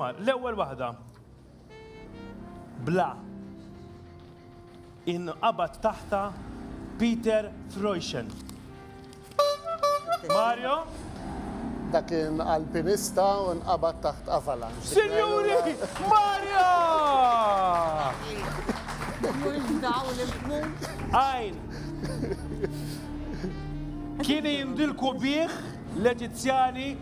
L-ewwel waħda, bla, inqabad taħtha Peter Freuchen. Mario? Dak kien alpinista u nqabad taħt avalanche. Sinjuri, Marja! Għajn. Kien jindilku bih l-Eġizzjani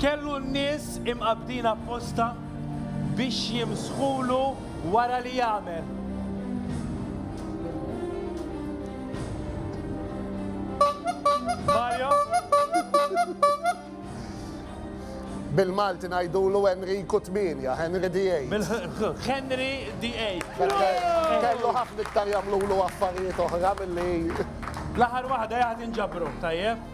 Kellu n-nies imqabbdin apposta biex jimsħulu wara li jagħmel. Mario? Bil-Malti ngħidulu Enriku Tmienja, Henry VIII. Henry VIII. Kellu ħafna iktar jagħmlulu affarijiet oħra milli. L-aħħar waħda jaqgħad inġabru, tajjeb?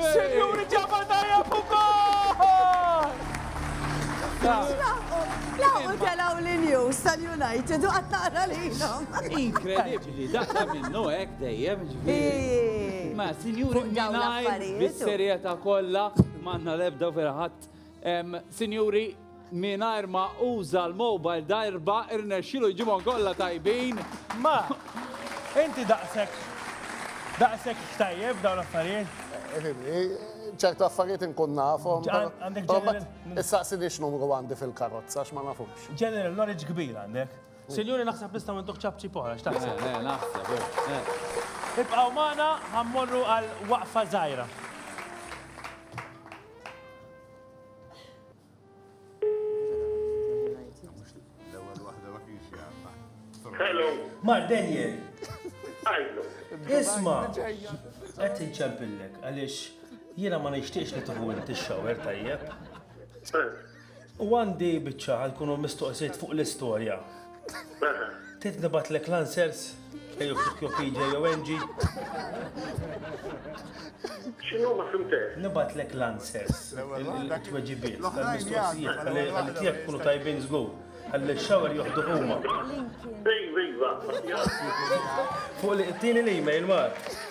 Sinjuri ġabal tajjeb u gol! Laħqu telaw li news tal-United u qatt naqra lilhom. Inkredibbli, daqqa minnu hekk dejjem ġifieri. Ma sinjuri mingħajr bis-serjetà kollha m'għandna l-ebda verħadd Sinjuri, mingħajr ma uża l-mobile darba irnexxilu jġibhom kollha tajbin. Ma, inti daqshekk daqshekk xtajjeb dawn l-affarijiet. ċertu affarijiet inkun nafhom. Issaqsini x'numru għandi fil-karozza x'ma nafux. General knowledge kbir għandek. Sinjuri naħseb nistgħu ntuh ċapċi poħra x'taħseb? Le, naħseb. Ibqgħu magħna ħammorru għal waqfa żgħira. Hello. Mark Daniel. Isma, għet nċempillek, għalix jiena ma nixtiex li tuħu inti xower tajjeb. U għandi biċċa għal kunu mistoqsiet fuq l-istorja. Trid nibatlek l-answers? Ejju fuq jo PJ jew Angie. X'inhu ma fimtek? Nibatlek l-answers, il-tweġibiet tal-mistoqsijiet għal tiegħek kunu tajbin żgur. Għalli x-xawer joħdu huma. Iva, iva. Fuq li qtini l-email, Mark.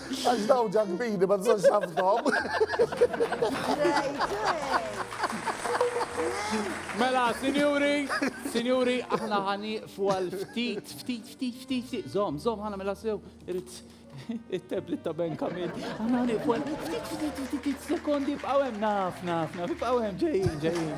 Għax daw ġakbini ma tżonx ħafnhom. Mela, sinjuri, sinjuri, aħna ħani fuqal ftit, ftit, ftit, ftit, ftit, zom, zom, ħana mela sew, irrit it-tablet ta' Ben Kamil. Aħna ħani fuqal ftit, ftit, ftit, ftit, sekondi, f'għawem, naf, naf, naf, f'għawem, ġejjin, ġejjin.